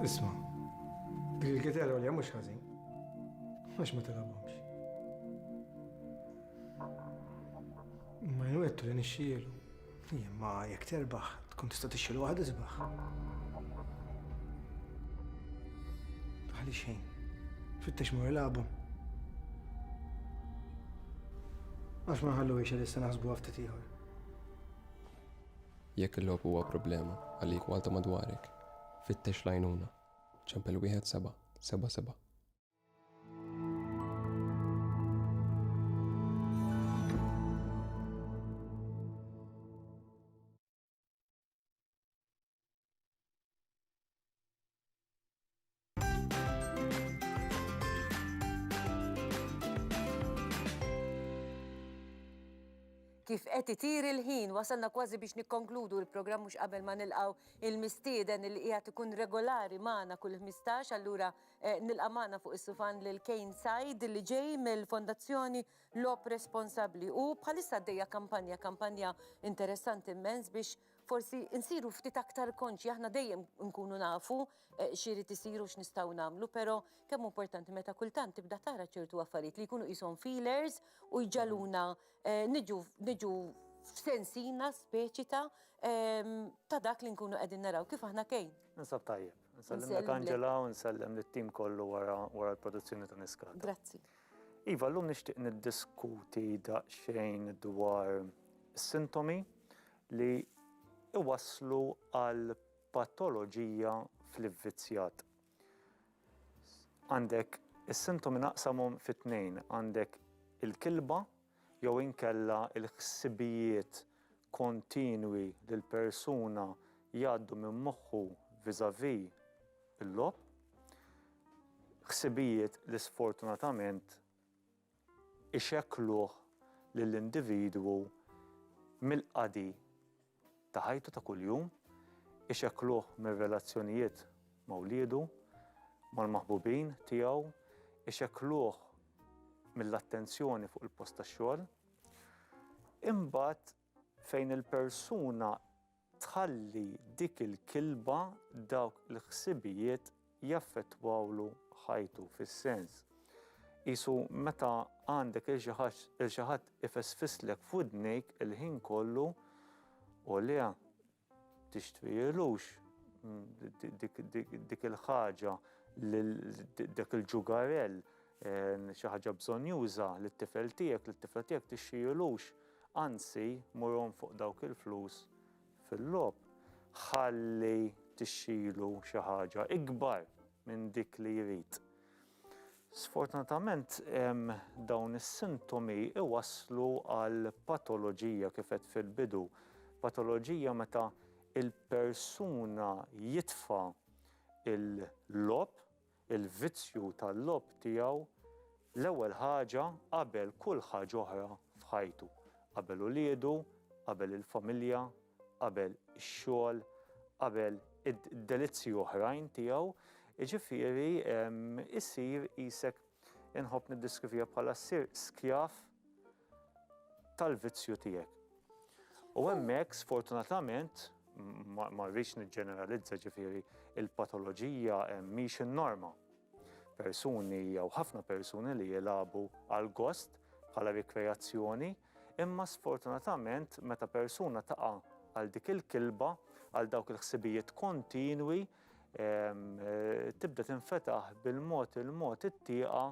Isma, dik il-gitara li mhux ħażin. Għax ma tilabhomx. Ma jwettu li nixxielu. Imma jekk terbaħ, tkun tista' tixxiel waħed isbaħ. Għali xejn. Fittex mur labu. Għax ma ħallu biex li s-sena ħasbu għaftit iħor. Jekk il-logħob huwa problema għalik u għal ta' madwarek, fittex l-għajnuna. Ċempel wieħed seba' seba' seba'. Kif qed itir il-ħin wasalna kważi biex nikkonkludu l-programm mhux qabel ma nilqgħu il-mistieden li qiegħed ikun regolari magħna kull 15 allura eh, nilqa' magħna fuq is-sufan lil Kane Said li ġej mill-Fondazzjoni Lop Responsabbli u bħalissa għaddejja kampanja kampanja interessanti immens biex forsi nsiru ftit aktar konċi, aħna dejjem nkunu nafu eh, xiri tisiru x'nistgħu nagħmlu, però kemm importanti meta kultant tibda tara ċertu affarijiet li jkunu qishom feelers u jġaluna eh, niġu f'sensina speċi ta' ehm, ta' dak li nkunu qegħdin naraw kif aħna kejn. Nsab tajjeb. Nsellem Angela u nsellem lit-tim kollu wara l-produzzjoni ta' Niskata. Grazzi. Iva, llum nixtieq niddiskuti daqsxejn dwar sintomi li iwasslu għal patoloġija fl-ivvizzjat. Għandek is-sintomi naqsamhom fit-tnejn, għandek il-kilba jew inkella l-ħsibijiet kontinwi li l-persuna jgħaddu minn moħħu vis-à-vis il-logħob, ħsibijiet li sfortunatament ixekkluh lill-individwu mill-qadi ta' ħajtu ta' kuljum, ixekkluh mir-relazzjonijiet ma' wliedu, mal-maħbubin tiegħu, ixekkluh mill-attenzjoni fuq il-post tax-xogħol. Imbagħad fejn il-persuna tħalli dik il-kilba, dawk il-ħsibijiet jaffettwawlu ħajtu fis-sens qisu meta għandek lil xi ħaġ lil xi ħadd ifesfslek f'widnejk il-ħin kollu u le tixtrielux dik il-ħaġa lil dak il-ġugarell xi ħaġa bżonnjuża lit-tifel tiegħek lit-tifla tiegħek tixtrielux anzi murhom fuq dawk il-flus fil-logħob, ħalli tixxilu xi ħaġa ikbar minn dik li jrid. Sfortunatament dawn is-sintomi iwasslu għal patoloġija kif għedt fil-bidu, patoloġija meta l-persuna jitfa' l-logħob il-vizzju tal-logħob tiegħu l-ewwel ħaġa qabel kull ħaġa oħra f'ħajtu, qabel uliedu, qabel il-familja, qabel ix-xogħol, qabel id-delizzji oħrajn tiegħu, jiġifieri isir qisek, inħobb niddiskrivija bħala ssir skjav tal-vizzju tiegħek. U hemmhekk sfortunatament ma rridx niġġeneralizza ġifieri il-patoloġija mhix in-norma. Persuni jew ħafna persuni li jilagħbu għal gost bħala rikreazzjoni, imma sfortunatament meta persuna taqa' għal dik il-kilba, għal dawk il-ħsibijiet kontinwi, ehm, tibda tinfetaħ bil-mod il-mod it-tieqa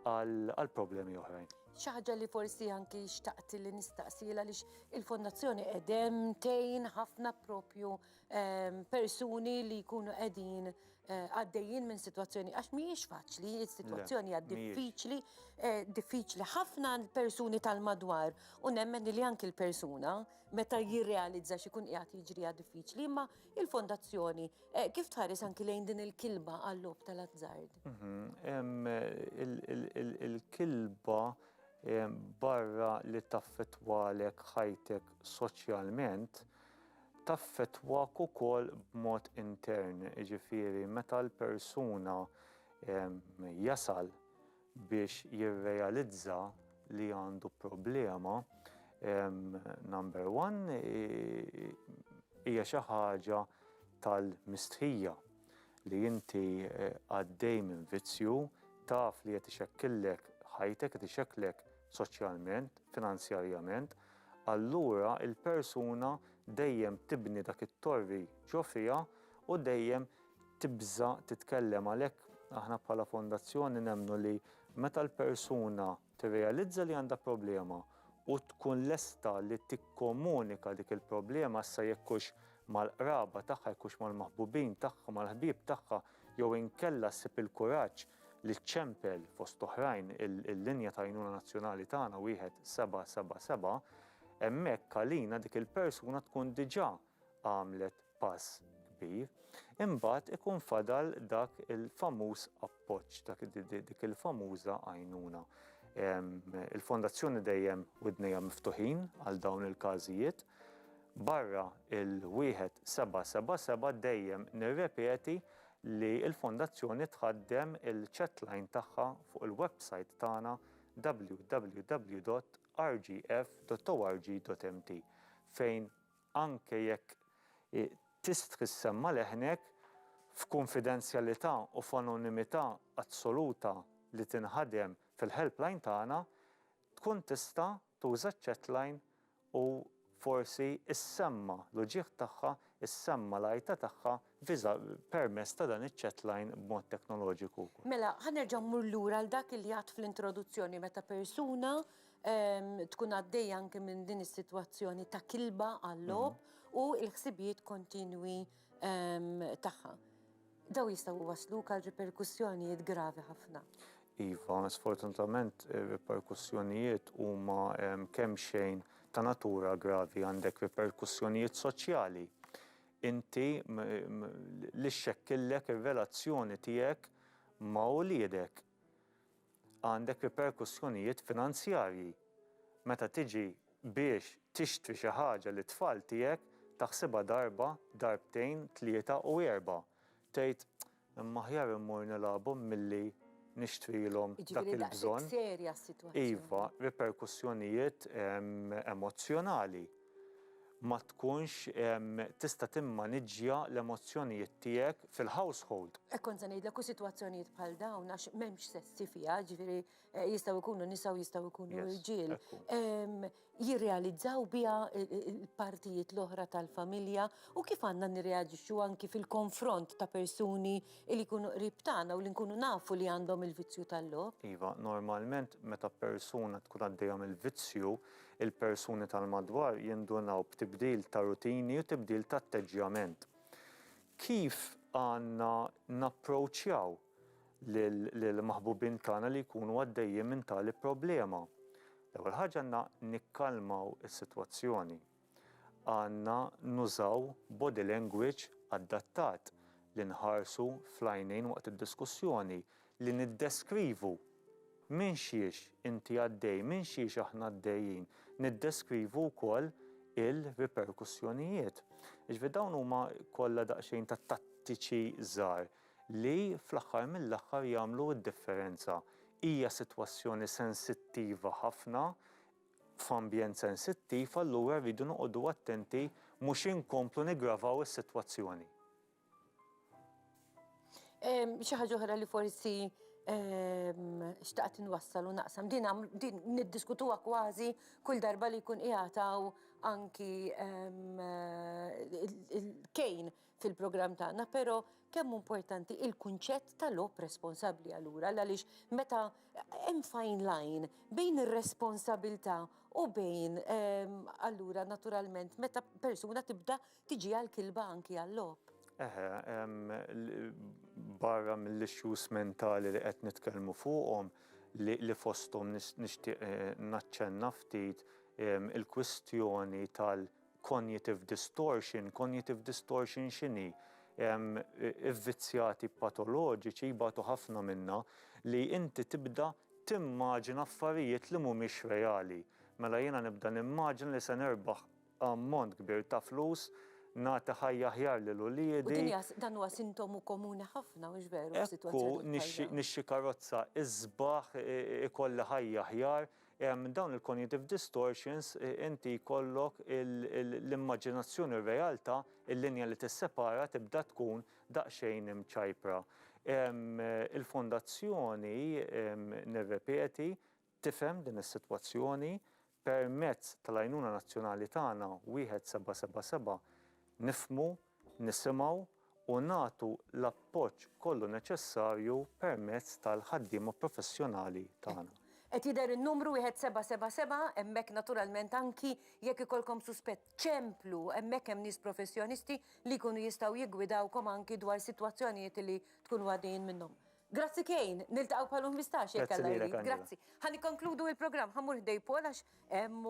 għal problemi oħrajn. Xi ħaġa li forsi anki xtaqt li nistaqsiela għaliex il-Fondazzjoni qegħdem tgħin ħafna propju ehm, persuni li jkunu qegħdin eh, għaddejjin minn sitwazzjoni għax mhijiex faċli, is-sitwazzjoni hija diffiċli, eh, diffiċli ħafna persuni tal-madwar u nemmen li anki l-persuna meta jirrealizza x'ikun qiegħed jiġri diffiċli, imma Il-Fondazzjoni eh, kif tħares anki lejn din il-kilba għall-lob tal-azzard? Mhm, il-kilba eh, barra li taffetwalek ħajtek soċjalment, taffetwak ukoll b'mod intern, ġifiri, meta l-persuna eh, jasal biex jirrealizza li għandu problema, number one, hija xi ħaġa tal-mistħija li inti għaddej minn vizzju, taf li qed ixekkillek ħajtek, qed ixekklek soċjalment, finanzjarjament, allura l-persuna dejjem tibni dak it-torri ġo fiha u dejjem tibża' titkellem. Għalhekk aħna bħala fondazzjoni nemmnu li meta l-persuna tirrealizza li għandha problema u tkun lesta li tikkomunika dik il-problema issa jekk hux mal-qraba tagħha, jekk hux mal-maħbubin tagħha, mal-ħbieb tagħha jew inkella ssib il-kuraġġ li ċċempel fost oħrajn il-linja ta' għajnuna nazzjonali tagħna wieħed seba' seba' seba', hemmhekk għalina dik il-persuna tkun diġà għamlet pass kbir, imbagħad ikun fadal dak il-famuż appoġġ, dak dik il-famuża għajnuna. Il-fondazzjoni dejjem widnejha miftuħin għal dawn il-każijiet. Barra il-wieħed seba' seba' seba' dejjem nirrepeti li l-fondazzjoni tħaddem il-chatline tagħha fuq il-website tagħna www.rgf.org.mt fejn anke jekk tistħi ssemma' leħnek, f'kunfidenzjalità u f'anonimità assoluta li tinħadem fil-helpline tagħna, tkun tista' tuża ċ-chatline u forsi ssemma' l-uġigħ tagħha, ssemma' l-għajta tagħha Visa permess ta' dan iċ-chat line b'mod teknoloġiku. Mela, ħa nerġa' mmur lura għal dak li għadt fl-introduzzjoni meta persuna tkun għaddejja anke minn din is-sitwazzjoni ta' kilba għal-logħob u l-ħsibijiet kontinwi tagħha. Dawn jistgħu jwassluk għal riperkussjonijiet gravi ħafna. Iva, sfortunatament ir-riperkussjonijiet huma kemxejn ta' natura gravi, għandek riperkussjonijiet soċjali, Inti li xxekkillek ir-relazzjoni tiegħek ma' uliedek għandek riperkussjonijiet finanzjarji. Meta tiġi biex tixtri xi ħaġa lit-tfal tiegħek taħsibha darba, darbtejn, tlieta u erbgħa. Tgħid, Imma aħjar immur nilagħabhom milli nixtrilhom dak il-bżonn. Jiġifieri daqshekk serja s-sitwazzjoni. Iva, riperkussjonijiet emozzjonali. Ma tkunx tista' timmaniġġja l-emozzjonijiet tiegħek fil-household. Hekk kont se ngħidlek, u sitwazzjonijiet bħal dawn għax m'hemmx sessi fiha, jiġifieri Eh, jistaw ikunu nisa u jistaw ikunu rġil, jirrealizzaw biha il-partijiet l-oħra tal-familja u kif għandna nirreagġixxu anki fil-konfront ta' persuni li jkunu qrib tagħna u li nkunu nafu li għandhom il-vizzju tal-lob. Iva, normalment meta persuna tkun għaddejhom il-vizzju, il-persuni tal-madwar jindunaw b'tibdil ta' rutini u tibdil ta' atteġġjament. Kif għandna napproċċjaw lill-maħbubin tagħna li jkunu għaddejjin minn tali problema. L-ewwel ħaġa għandna nikkalmaw is-sitwazzjoni. Għandna nużaw body language adattat li nħarsu fl-għajnejn waqt id-diskussjoni, li niddeskrivu minn xiex inti għaddej, minn xiex aħna għaddejjin, niddeskrivu wkoll il-riperkussjonijiet. Iġvi dawn huma kollha daqsxejn ta' tattiċi żgħar li fl-aħħar mill-aħħar jagħmlu d-differenza. Hija sitwazzjoni sensittiva ħafna, f'ambjent sensittiv, allura rridu noqogħdu attenti mhux inkomplu niggravaw is-sitwazzjoni. Xi ħaġa oħra li forsi xtaqt inwassal u naqsam. Din niddiskutuha kważi kull darba li jkun qiegħataw anki il-kejn fil-programm tagħna, però kemm importanti il-kunċett ta' lob responsabbli allura għaliex meta hemm fine line bejn ir-responsabilità u bejn ehm, allura naturalment meta persuna tibda tiġi għal kilba anki għal lob. Eħe, ehm, barra mill-issues mentali li qed nitkellmu fuqhom li fosthom nixtieq eh, naċċenna ftit ehm, il-kwistjoni tal- Cognitive distortion, cognitive distortion x'inhi? Ivvizzjati patoloġiċi jbatu ħafna minnha li inti tibda timmaġina affarijiet li mhumiex reali. Mela jiena nibda nimmaġina li se nirbaħ ammont kbir ta' flus, nagħti ħajja aħjar lil uliedi. U din hija, dan huwa sintomu komuni ħafna, mhux veru, f'sitwazzjonijiet bħal dawn? Ekku, nixtri karozza isbaħ, ikolli ħajja aħjar, Minn dawn il-cognitive distortions inti jkollok l-immaġinazzjoni u r-realtà, il-linja li tissepara tibda tkun daqsxejn imċajpra. Il-Fondazzjoni, nirrepeti, tifhem din is-sitwazzjoni. Permezz tal-għajnuna nazzjonali tagħna 1777 nifhmu nisimgħu u nagħtu l-appoġġ kollu neċessarju permezz tal-ħaddiema professjonali tagħna. Qed jidher in-numru wieħed seba' seba' seba', hemmhekk naturalment anki jekk ikollkom suspett, ċemplu, hemmhekk hemm nies professjonisti li jkunu jistgħu jiggwidawkom anki dwar sitwazzjonijiet li tkunu għaddejjin minnhom. Grazzi Kane, niltaqgħu bħal-unbistax jekk Alla jrid. Grazzi lilek Angela. Grazzi. Ħa nikkonkludu il-programm, ħa mmur ħdej Paul għax hemm u.